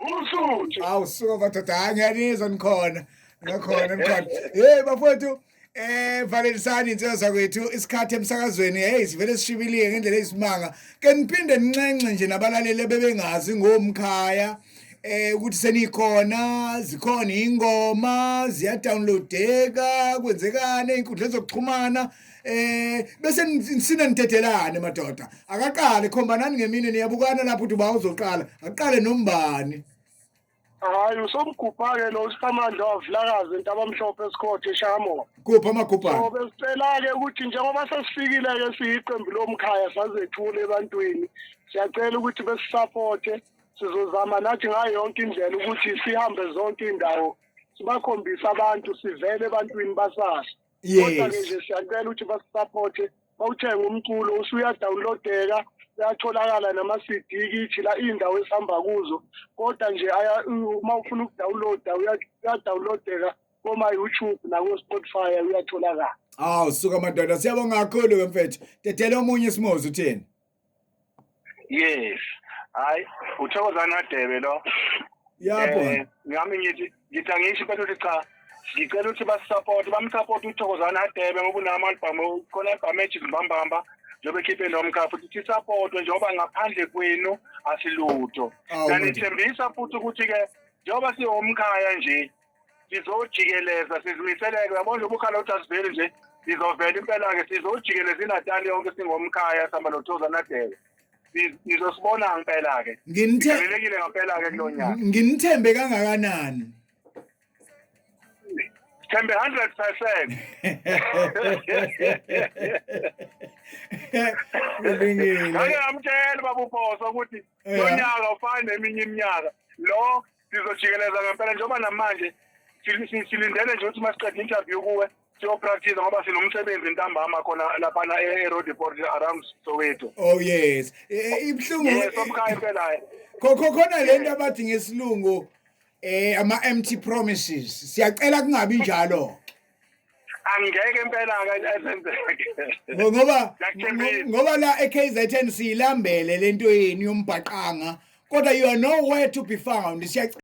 Usuthu. Awu suka madoda hayi ngiyanizwa nikhona. Ngakhona nikhona. Hey bafowethu eh valelisani insizwa zakwethu isikhathi emsakazweni hey sivele sishibilike ngendlela eyisimanga. Ke niphinde ninxenxe nje nabalaleli bebengazi ngomkhaya. Eh ukuthi senikhona zikhona ingoma ziyadownloadeka kwenzekani inkundla zokuxhumana eh bese nisina nidedelane madoda akaqale khombanani ngemini niyabukana lapho uthi uba uzoqala aqale nombani hayi usomgubhake lo usamandla wavulakazi entabamhlophe esikhothe eshamo kuphi amagubhane so besicela-ke ukuthi njengoba sesifikile-ke siyiqembu lomkhaya sazethula ebantwini siyacela ukuthi besisapothe sizozama nathi ngayo yonke indlela ukuthi sihambe zonke iy'ndawo sibakhombise abantu sivele ebantwini basasho kodwa ke nje siyacela ukuthi basisapothe bawuthenge umculo usuyadawunlodeka uyatholakala nama-cd kithi la iy'ndawo esihamba kuzo kodwa nje uma ufuna ukudawunloda uyadawunlodeka koma-youtube nako-spotify uyatholakala awu suka madoda siyabonga kakhulu-ke mfethu dedela omunye isimozi uthini yes hayi uthokozani kadebe lo yabo Eh, ngami ngithi ngithi angisho kodwa ukuthi cha ngicela ukuthi basisupport bamsupport uthokozani adebe ngoba unama album khona album ethi mbambamba njengoba ekhiphe lo mkhaya futhi sisupportwe njengoba ngaphandle kwenu asilutho Awu, nganithembisa futhi ukuthi-ke njengoba siwumkhaya nje sizojikeleza sizimiseleke uyabona nje ubukhala ukuthi asiveli nje sizovela impela-ke sizojikeleza inatali yonke singomkhaya sihamba nothoza nadele sizosibona ngempela-ke nginelekile ngempela-ke kulo nyaka nginithembe kangakanani sithembe 100 percent ngake ngamtshela babuphosa ukuthi eh. lo nyaka ufane neminye iminyaka lo sizojikeleza ngempela njengoba namanje silindele nje ukuthi uma siqeda interview kuwe siyopractice ngoba sinomsebenzi ntambama khona laphana e-road report around soweto oh yes e, e, ibuhlungu yes omkhaya impela khokho khona le nto abathi ngesilungu eh ama empty promises siyacela kungabi njalo angeke impela akasenzeke ngoba ngoba la eKZN silambele lento yenu yombhaqanga kodwa you are nowhere to be found